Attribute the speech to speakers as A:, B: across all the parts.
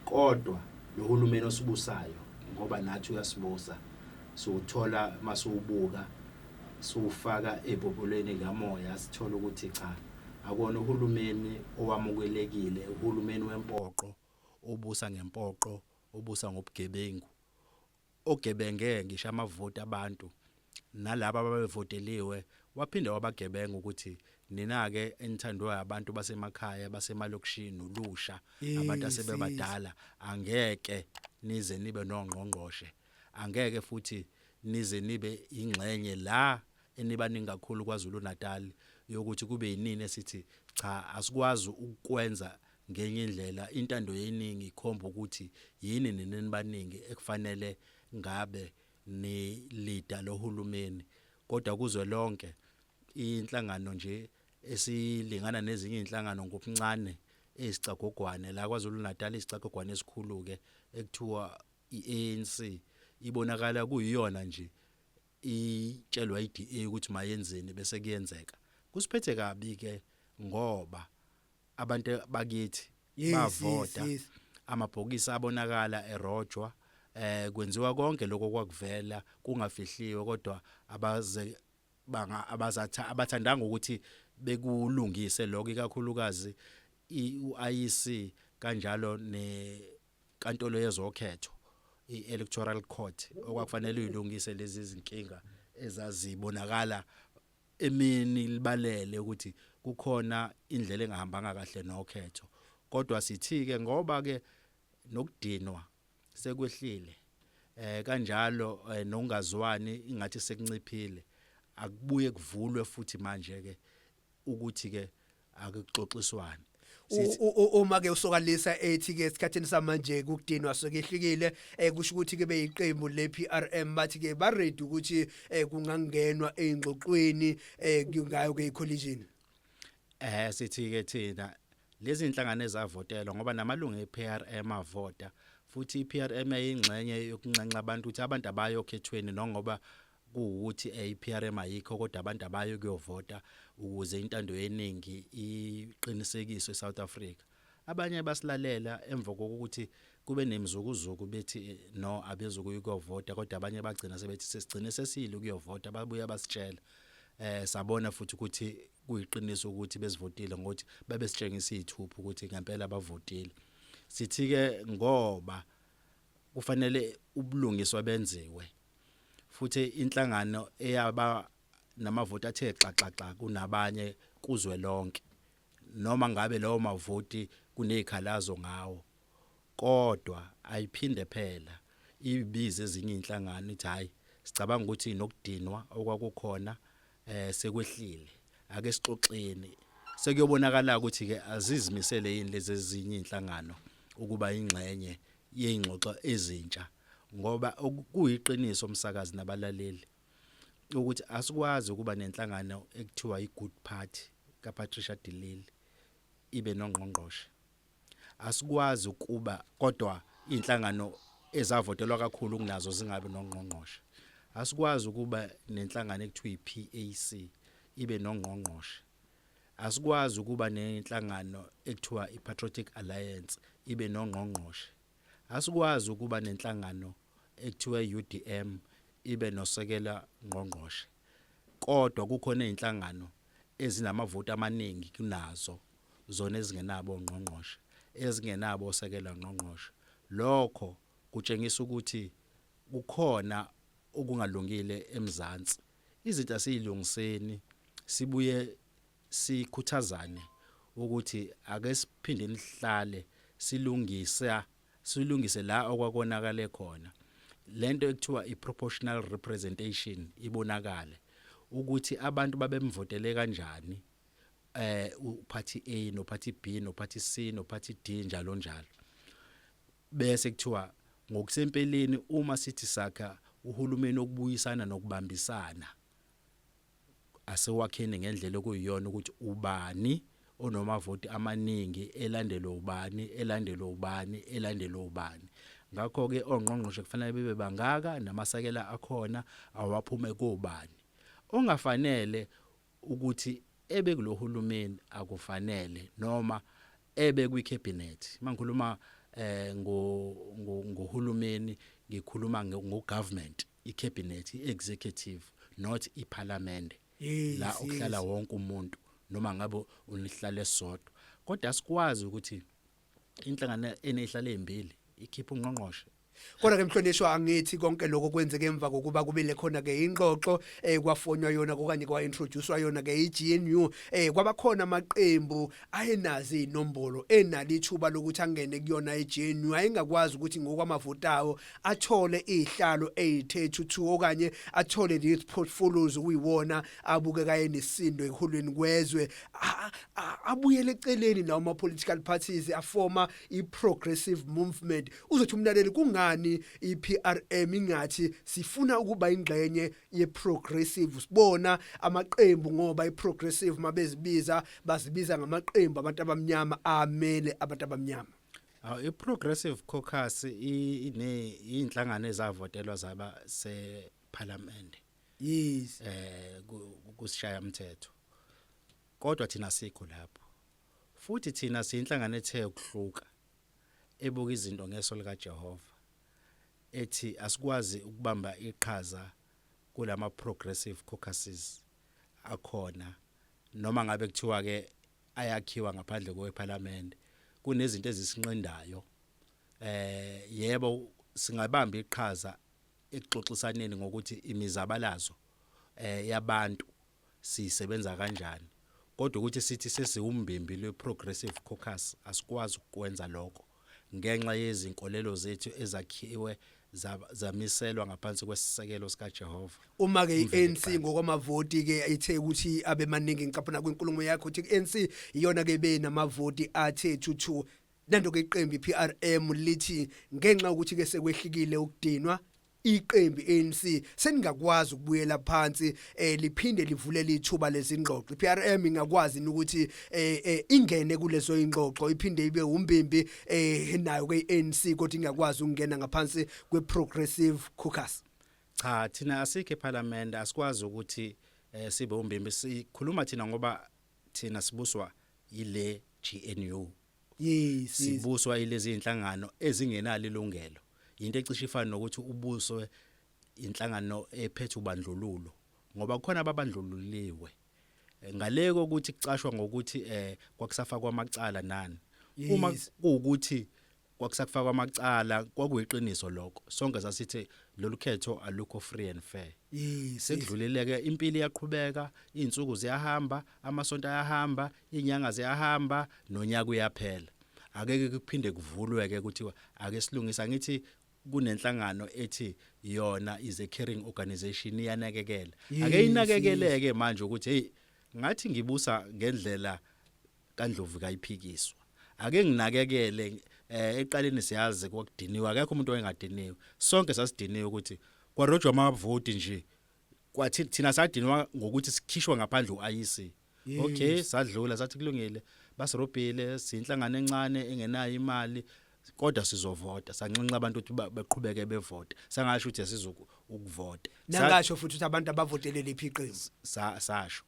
A: Kodwa lohulumeni osibusayo ngoba nathi uyasibusa siwuthola masuwubuka siwufaka ebhobholweni likamoya sithola ukuthi cha akuwona uhulumeni owamukelekile uhulumeni wempoqo obusa ngempoqo obusa ngobugebengu ogebenge ngisho amavoti abantu nalabo ababevoteliwe waphinde wabagebenga ukuthi nina-ke enithandwa abantu basemakhaya basemalokishini nolusha abantu asebebadala angeke nize nibe nongqongqoshe angeke futhi nize nibe ingxenye la enibaningi kakhulu KwaZulu-Natal yokuthi kube yinini esithi cha asikwazi ukwenza Ngenye indlela, intando yeningi ikhomba ukuthi yini nina nibaningi ekufanele ngabe nilida lohulumeni. Kodwa kuzwe lonke, inhlangano nje esilingana nezinye izinhlangano ngobuncane eyisicagogwane la KwaZulu-Natal isicagogwane esikhulu-ke ekuthiwa i-ANC ibonakala kuyiyona nje itshelwa iDA ukuthi mayenzeni bese kuyenzeka. Kusiphethe kabi-ke ngoba abantu bakithi Yes, bavota yes, yes. amabhokisi abonakala erojwa eh kwenziwa konke lokho kwakuvela kungafihliwe kodwa abaze banga abazatha abathandanga ukuthi bekulungise lokho ikakhulukazi i- uIEC kanjalo ne kaNtolo yezokhetho iElectoral Court okwakufanele uyilungise lezi zinkinga ezazibonakala emini libalele ukuthi kukhona indlela engahambanga kahle nokhetho kodwa sithi ke ngoba ke nokudinwa sekwehlile eh kanjalo eh, nokungazwani ingathi sekunciphile akubuye kuvulwe futhi manje ke ukuthi ke akuxoxiswani
B: uma ke usokalisa ethi ke esikhathini samanje kudinwa sokehlukile eh, kusho ukuthi ke beyiqembu le PRM bathi ke ba ready ukuthi eh, kungangenwa eingxoxweni eh, ngayo ke icollision eh
A: sithi ke thina lezi inhlangano ezavotelwa ngoba namalungu ePRM avota futhi iPRM eyingxenye yokunxenxa abantu ukuthi abantu abayokhethweni nongoba kuwukuthi eh, iPRM ayikho kodwa abantu abayo kuyovota ukuze intando yeningi iqinisekiswe eSouth Africa abanye basilalela emva kokuthi kube nemzukuzuku bethi eh, no abezukuyi kuyovota kodwa abanye bagcina sebethi sesigcine sesile ukuyovota babuya basitshela eh sabona futhi ukuthi kuyiqiniso ukuthi besivotile ngokuthi babesitshengisa izithuphu ukuthi ngempela bavotile sithi ke ngoba kufanele ubulungiswa benziwe futhi inhlangano eyaba namavoti athe xaxaxa kunabanye kuzwe lonke noma ngabe lawo mavoti kunezikhalazo ngawo kodwa ayiphinde phela ibize ezinye inhlangano ithi hayi sicabanga ukuthi nokudinwa okwakukhona eh sekwehlile ake sixoxeni sekuyobonakala ukuthi ke azizimisele yini lezi ezinye inhlangano ukuba ingxenye yeingxoxo ezintsha ngoba kuyiqiniso umsakazi nabalaleli ukuthi asikwazi ukuba nenhlangano ekuthiwa iGood Party kaPatricia Dilili ibe nongqongqoshe Asikwazi ukuba kodwa iy'nhlangano ezavotelwa kakhulu kunazo zingabi nongqongqoshe. Asikwazi ukuba nenhlangano ekuthiwa i-PAC ibe nongqongqoshe. Asikwazi ukuba nenhlangano ekuthiwa i-Patriotic Alliance ibe nongqongqoshe. Asikwazi ukuba nenhlangano ekuthiwa i-UDM ibe nosekela ngqongqoshe. Kodwa kukhona iy'nhlangano ezinamavoti amaningi kunazo zona ezingenabo ongqongqoshe, ezingenabo osekela ngqongqoshe, lokho kutshengisa ukuthi kukhona okungalungile eMzansi. Izinto asiyilungiseni sibuye sikhuthazane ukuthi ake siphindeni sihlale silungisa silungise la okwakonakale khona. Lento ekuthiwa iproportional representation ibonakale ukuthi abantu babemvotele kanjani eh uphathi A nophathi B nophathi C nophathi D njalo njalo bese kuthiwa ngokusempeleni uma sithi sakha uhulumeni okubuyisana nokubambisana asewakheni ngendlela okuyiyona ukuthi ubani onomavoti amaningi elandelwe ubani elandelwe ubani elandelwe ubani ngakho ke ongqongqoshe kufanele bebe bangaka namasakela akhona awaphuma kobani ongafanele ukuthi ebe kulohulumeni akufanele noma ebe kwi cabinet mangikhuluma eh ngo ngohulumeni ngikhuluma ngo government i cabinet i executive not i parliament la ukuhlala wonke umuntu noma ngabe unihlale sodwa kodwa sikwazi ukuthi inhlangano enezihlalo ezimbili ikhipha ungqongqoshe kodwa ke mhlonishwa
B: angithi konke lokho kwenzeke emva kokuba kubile khona ke ingxoxo eh kwafonywa yona okanye kwa introducewa yona ke iGNU eh kwabakhona amaqembu ayenazi inombolo enali ithuba lokuthi angene kuyona iGNU ayengakwazi ukuthi ngokwamavotawo athole izihlalo ezithethu 2 okanye athole lezi portfolios kuyiwona abukeka enesindo eholweni kwezwe abuyele eceleni nawo ama political parties afoma i progressive movement uzothi umlaleli kungani i PRM ingathi sifuna ukuba ingxenye ye progressive sibona amaqembu ngoba i progressive mabezibiza bazibiza ngamaqembu abantu abamnyama amele abantu abamnyama Aw i progressive
A: caucus ine inhlangano ezavotelwa zaba se parliament yes
B: eh
A: kusishaya umthetho kodwa thina sikho lapho futhi thina siyinhlangano ethe ukuhluka ebuka izinto ngeso lika Jehova ethi asikwazi ukubamba iqhaza kulama progressive caucuses akhona noma ngabe kuthiwa ke ayakhiwa ngaphandle kwePhalamende kunezinto ezisinqindayo eh yebo singabamba iqhaza ekuxoxisaneni ngokuthi imizabalazo eh, yabantu siyisebenza kanjani kodwa ukuthi sithi sesiwumbimbi lwe-progressive caucus asikwazi ukwenza lokho ngenxa yezinkolelo zethu ezakhiwe zamiselwa ngaphansi kwesisekelo sikaJehova uma ke iANC
B: ngokwamavoti ke ithe ukuthi abemaningi ngicaphuna kwenkulumo yakho ukuthi iANC iyona ke benamavoti athe thuthu Nandoke iqembu iPRM lithi ngenxa ukuthi ke sekwehlikile ukudinwa iqembu ANC seningakwazi ukubuyela phansi eh liphinde livulele ithuba lezingxoxo iPRM ingakwazi ukuthi eh, eh ingene kulezo ingxoxo iphinde ibe umbimbi eh nayo ke iANC kodwa ingakwazi ukungena ngaphansi kweProgressive Caucus cha thina
A: asikho eParliament asikwazi ukuthi eh sibe umbimbi sikhuluma thina ngoba thina sibuswa yile GNU Yes, yes.
B: sibuswa ilezi
A: inhlangano ezingenalo ilungelo into ecishe ifana nokuthi ubuswe inhlangano ephethe ubandlululo ngoba kukhona ababandlululiwe Eh, ngale kokuthi kucashwa ngokuthi eh kwakusafakwa amacala nani uma Yes. kuwukuthi kwakusakufakwa amacala kwakuyiqiniso lokho sonke sasithe lolu khetho alukho free and fair sekudlulileke impilo iyaqhubeka izinsuku ziyahamba amasonto ayahamba inyanga ziyahamba nonyaka uyaphela akeke kuphinde kuvulwe ke kuthiwa ake silungisa ngithi kunenhlangano ethi yona is a caring organization iyanakekela ake inakekeleke manje ukuthi hey ngathi ngibusa ngendlela kaNdlovu kayiphikiswa ake nginakekele eh eqaleni siyazi kwakudiniwe akekho umuntu oyengadiniwe sonke sasidiniwe ukuthi kwarojwa amavoti nje kwathi thina sadinwa ngokuthi sikhishwe ngaphandle uIC okay sadlula sathi kulungile basirobhile sinhlangano encane engenayo imali kodwa sizovota sanxenxa abantu ukuthi baqhubeke bevota sangasho ukuthi asizoku ukuvota nangasho futhi
B: ukuthi abantu abavotelele iphi iqembu sasho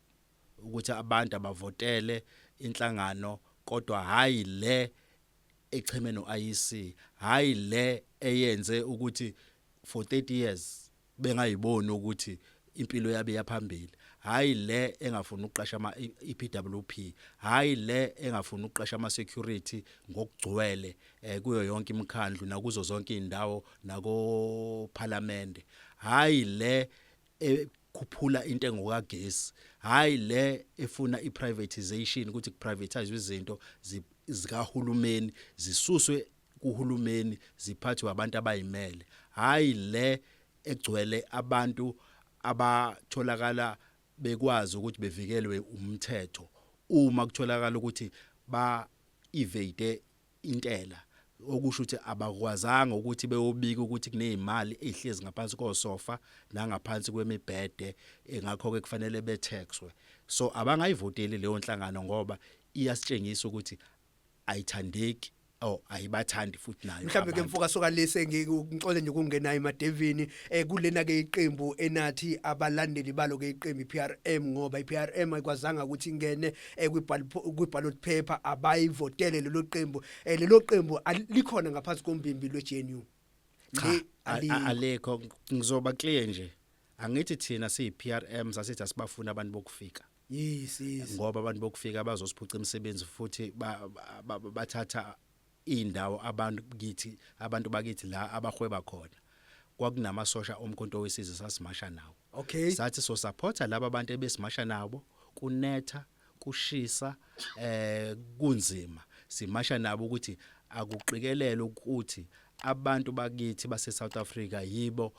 A: ukuthi abantu abavotele inhlangano kodwa hhayi le echeme no-IEC, hhayi le eyenze ukuthi for 30 years bengayiboni ukuthi impilo yabo iyaphambili hhayi le engafuni ukuqasha ama-EPWP e hhayi le engafuni ukuqasha ama-security ngokugcwele um kuyo yonke imikhandlu nakuzo zonke iy'ndawo nakophalamende hhayi le ekhuphula intengo kagesi hayi le efuna iprivatization ukuthi kuprivatizwe izinto zikahulumeni zisuswe kuhulumeni ziphathwe abantu abayimele hayi le egcwele abantu abatholakala bekwazi ukuthi bevikelwe umthetho uma kutholakala ukuthi ba evade intela okusho ukuthi abakwazanga ukuthi beyobika ukuthi kunezimali ezihlezi ngaphansi kosofa nangaphansi kwemibhede engakho ke kufanele betaxwe so abangayivoteli leyo nhlangano ngoba iyasitshengisa ukuthi ayithandeki Oh ayibathandi futhi nayo. Mhlawumbe ke mfoka soka lese
B: ngikuxole nje ukungena emadevini eh kulena ke iqembu enathi abalandeli balo ke iqembu iPRM ngoba iPRM ayikwazanga ukuthi ingene eh, kwi-ballot paper abayivotele lelo qembu eh, lelo qembu likhona ngaphansi kombimbi lwe-GNU cha alekho
A: ngizoba clear nje angithi thina siyi-PRM sasithi asibafuni abantu bokufika yes yes
B: ngoba abantu
A: bokufika bazosiphuca imisebenzi futhi bathatha indawo abantu kithi abantu bakithi la abahweba khona kwakunamasosha omkhonto wesizwe sasimasha nawo okay sathi so
B: supporta
A: laba bantu ebesimasha nabo kunetha kushisa eh kunzima simasha nabo ukuthi akuqikelele ukuthi abantu bakithi base South Africa yibo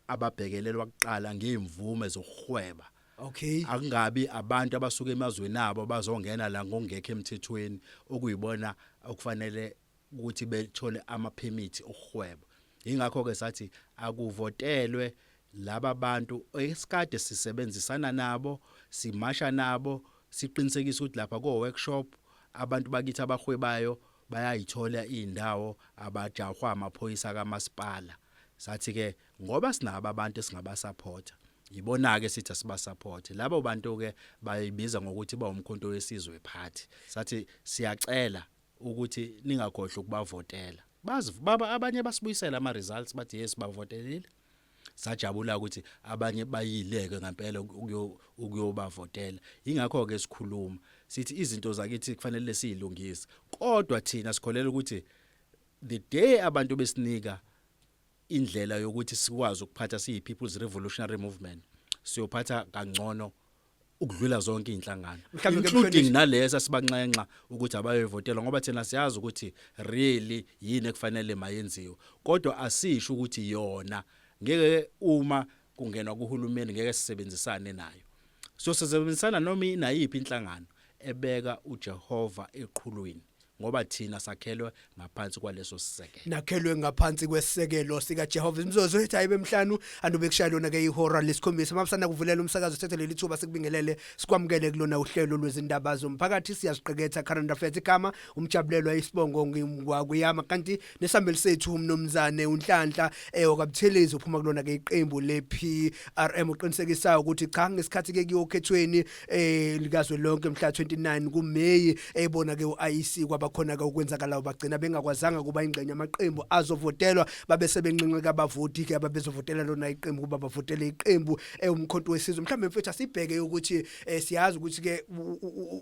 A: ababhekelelwa kuqala ngeemvume zokuhweba Okay.
B: Akungabi abantu
A: abasuka emazweni abo bazongena la ngokungekho emthethweni okuyibona okufanele ukuthi bethole ama permit okuhweba. Ingakho ke sathi akuvotelwe laba bantu esikade sisebenzisana nabo, simasha nabo, siqinisekisa ukuthi lapha ko workshop abantu bakithi abahwebayo bayayithola indawo abajahwa amaphoyisa kamasipala. Sathi ke ngoba sinabo abantu esingabasupporta yibona ke sithi asiba support labo bantu ke bayibiza ngokuthi bawumkhonto wesizwe party sathi siyacela ukuthi ningakhohlwa ukubavotela bazi baba abanye basibuyisela ama results bathi yes bavotelile sajabula ukuthi abanye bayileke ngempela ukuyobavotela ingakho ke sikhuluma sithi izinto zakithi kufanele siyilungise kodwa thina sikholela ukuthi The day abantu besinika indlela yokuthi sikwazi ukuphatha siyi People's Revolutionary Movement siyophatha kangcono ukudlula zonke izinhlangano including nalesa sibanxenxa ukuthi abayevotela ngoba thina siyazi ukuthi really yini ekufanele mayenziwe kodwa asisho ukuthi yona ngeke uma kungenwa kuhulumeni ngeke sisebenzisane nayo siyosebenzisana noma inayiphi inhlangano ebeka uJehova eqhulwini ngoba thina sakhelwe ngaphansi kwaleso sisekelo nakhelwe ngaphansi
B: kwesekelo sika Jehovah imizozo ethi ayibe emhlanu andobe kushaya lona ke ihora lesikhombisa mabusana kuvulela umsakazo sethe leli thuba sikubingelele sikwamukele kulona uhlelo lwezindaba zomphakathi siyaziqeketha current affairs igama umjabulelwa isibongo ngingwakuyama kanti nesambeli sethu umnomzane uNhlanhla eh wakabuthelezi uphuma kulona ke iqembu lePRM uqinisekisa ukuthi cha ngesikhathi ke kuyokhethweni eh likazwe lonke mhla 29 kuMay ebona eh, ke uIC kwabakhona ke ukwenzakalayo bagcina bengakwazanga kuba ingxenye amaqembu azovotelwa babe sebenqinqeka abavoti ke ababezovotela lona iqembu kuba bavotele iqembu ewumkhonto eh, wesizwe mhlawumbe mfethu asibheke ukuthi eh, siyazi ukuthi ke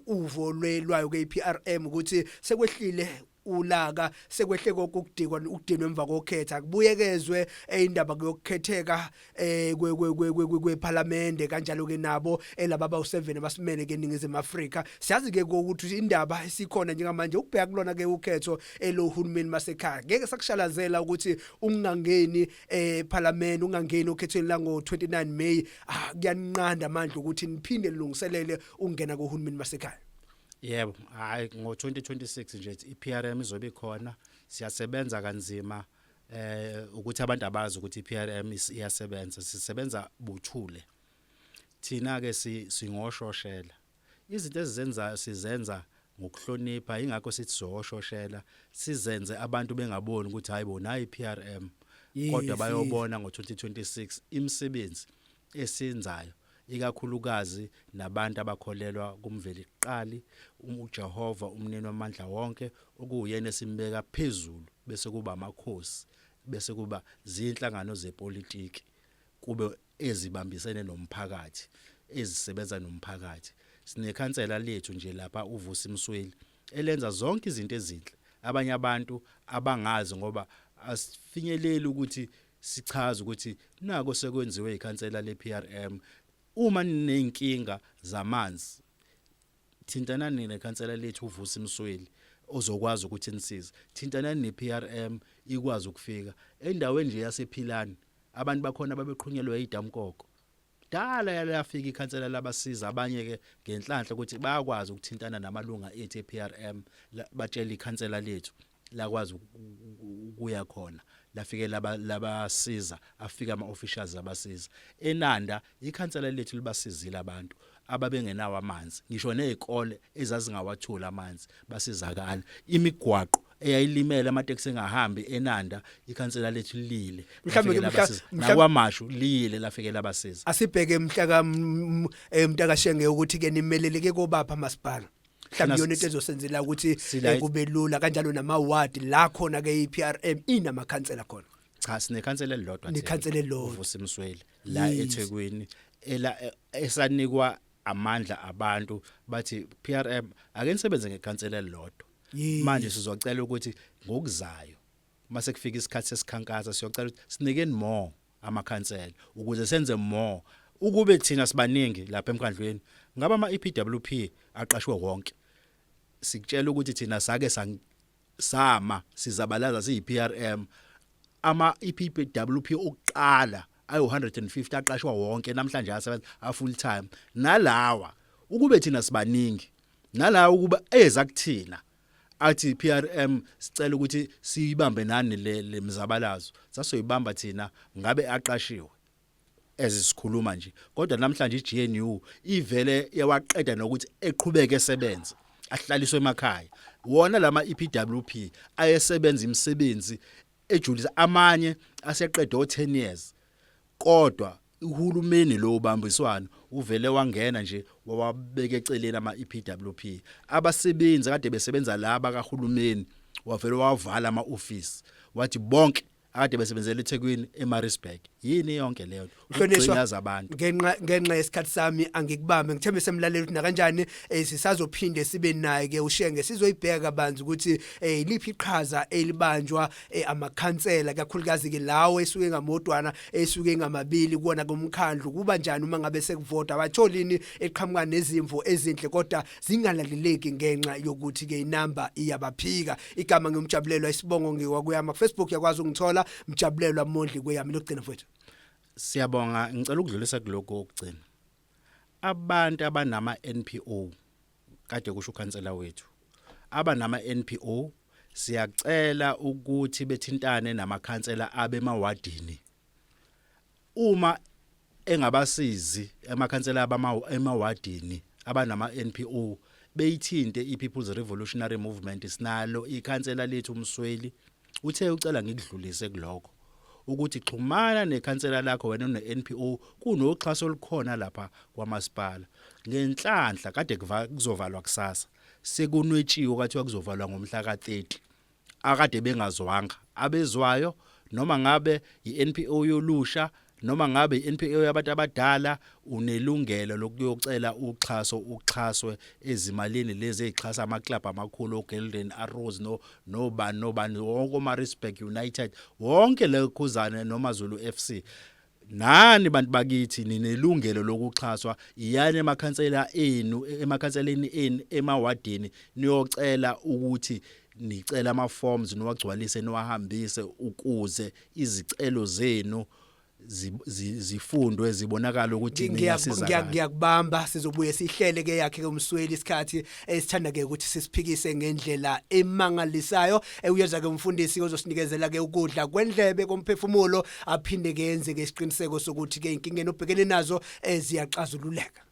B: uvo lwayo ke iPRM ukuthi sekwehlile ulaka sekwehle konke ukudikwa ukudinwa emva kokhetha kubuyekezwe indaba kuyokukhetheka eh kwephalamende kanjalo ke nabo elaba ba u7 abasimele ke ningizimu Afrika siyazi ke ukuthi indaba esikhona njengamanje ukubheka kulona ke ukhetho elohulumeni masekhaya ngeke sakushalazela ukuthi ungangeni ephalamende eh, ungangeni okhethweni la ngo 29 May ah, kuyanqanda amandla ukuthi niphinde lilungiselele ungena kohulumeni masekhaya yebo
A: hayi ngo-2026 nje i-PRM izobe ikhona siyasebenza kanzima eh ukuthi abantu abazi ukuthi iPRM iyasebenza sisebenza buthule thina ke singoshoshela izinto ezizenzayo sizenza ngokuhlonipha ingakho sithi soshoshela sizenze abantu bengaboni ukuthi hayibo nayi PRM kodwa bayobona ngo2026 imisebenzi esenzayo ikakhulukazi nabantu abakholelwa kuMvelikuqali, uJehova uMnini wamandla wonke, okuwuyena esimbeka phezulu, bese kuba amakhosi, bese kuba zinhlangano zepolitiki, kube ezibambisene nomphakathi, ezisebenza nomphakathi. Sinekhansela lethu nje lapha uVusi Msweli elenza zonke izinto ezinhle abanye abantu abangazi ngoba asifinyeleli ukuthi sichaza ukuthi nako sekwenziwe ikhansela lePRM uma ninenkinga zamanzi thintanani nekhansela lethu uvusa imsweli ozokwazi ukuthi nisize thintanani nePRM ikwazi ukufika endaweni nje yasephilani abantu bakhona babeqhunyelwe idamkoko dala yalafika ikhansela labasiza abanye ke ngenhlanhla ukuthi bayakwazi ukuthintana namalunga ethu ePRM batshela ikhansela lethu lakwazi ukuya khona lafike laba labasiza afika ama officials abasiza enanda ikhansela lethu libasizile abantu ababengenawo amanzi ngisho nezikole ezazingawatholi amanzi basizakala imigwaqo eyayilimele amateksi engahambi enanda ikhansela lethu lile mhlawumbe
B: nakwamashu
A: lile lafikela abasiza asibheke mhlaka
B: emntakashenge ukuthi ke nimeleleke kobapha masipala mhlawumbe yona into ezosenzela ukuthi eh, kube lula kanjalo nama ward la khona ke iPRM inamakhansela khona cha sinekhansela
A: elilodwa nje nekhansela elilodwa uvusa
B: imsweli la
A: eThekwini ela e, esanikwa amandla abantu bathi PRM ake nisebenze ngekhansela elilodwa manje sizocela ukuthi ngokuzayo mase kufika isikhathi sesikhankasa siyocela ukuthi sinikeni more amakhansela ukuze senze more ukube thina sibaningi lapha emkhandlweni ngaba ama EPWP aqashwe wonke sikutshela ukuthi thina sake sama sizabalaza siyiPRM ama EPWP okuqala ayo 150 aqashwa wonke namhlanje asebenza a full time nalawa ukube thina sibaningi nalawa ukuba eza kuthina athi PRM sicela ukuthi siyibambe nani le lemzabalazo sasoyibamba thina ngabe aqashiwe ezisikhuluma nje kodwa namhlanje iGNU ivele yawaqeda nokuthi eqhubeke esebenza ahlaliswe emakhaya wona lama EPWP ayesebenza imisebenzi ejulisa amanye aseqede o 10 years kodwa uhulumeni lo ubambiswano uvele wangena nje wawabeka eceleni ama EPWP abasebenzi kade besebenza laba kahulumeni wavele wavala ama office wathi bonke akade besebenzela eThekwini eMaritzburg yini yonke leyo ukugcina zabantu ngenxa ngenxa yesikhathi
B: sami angikubambe ngithembe semlalela ukuthi nakanjani eh, sisazophinde sibe naye ke ushenge sizoyibheka banzi ukuthi eh, liphi iqhaza elibanjwa eh, amakhansela kakhulukazi ke lawo esuke ngamodwana esuke ngamabili kuona komkhandlu kuba njani uma ngabe sekuvota batholini eqhamuka nezimvo ezinhle kodwa zingalaleleki ngenxa yokuthi ke inamba iyabaphika igama ngiyomjabulelwa isibongo ngiwakuyama Facebook yakwazi ungithola mjabulelwa mondli kweyami lokugcina mfowethu siyabonga
A: ngicela ukudlulisa kuloko okugcina Abantu abanama NPO kade kusho ukhansela wethu abanama NPO siyacela ukuthi bethintane namakhansela abemawadini uma engabasizi amakhansela abamawadini abanama NPO beyithinte iPeople's Revolutionary Movement sinalo ikhansela lethu Msweli Uthe ucela ngikudlulise kulokho ukuthi xhumana nekhansela lakho wena ne-NPO kunoxhaso olukhona lapha kwamasipala ngenhlanhla kade kuzovalwa kusasa sekunwetshiwe kwathiwa kuzovalwa ngomhla ka-30 akade bengazwanga abezwayo noma ngabe yi-NPO yolusha noma ngabe i-NPO yabantu abadala unelungelo lokuyocela uxhaso uxhaswe ezimalini lezi ezixhasa amaclub amakhulu oGolden Arrows no nobani nobani wonke oMaritzburg United wonke le khuzane noma Zulu FC nani bantu bakithi ninelungelo lokuxhaswa iyani emakhansela enu emakhanseleni enu emawadini niyocela ukuthi nicela ama forms niwagcwalise niwahambise ukuze izicelo zenu zifundwe zibonakala ukuthi niyasiza ngiyakubamba
B: sizobuye sihlele ke yakhe ke umsweli isikhathi esithanda ke ukuthi sisiphikise ngendlela emangalisayo ewuyeza ke umfundisi ozosinikezela ke ukudla kwendlebe komphefumulo aphinde ke yenze ke isiqiniseko sokuthi ke inkinga enobhekene nazo eziyaxazululeka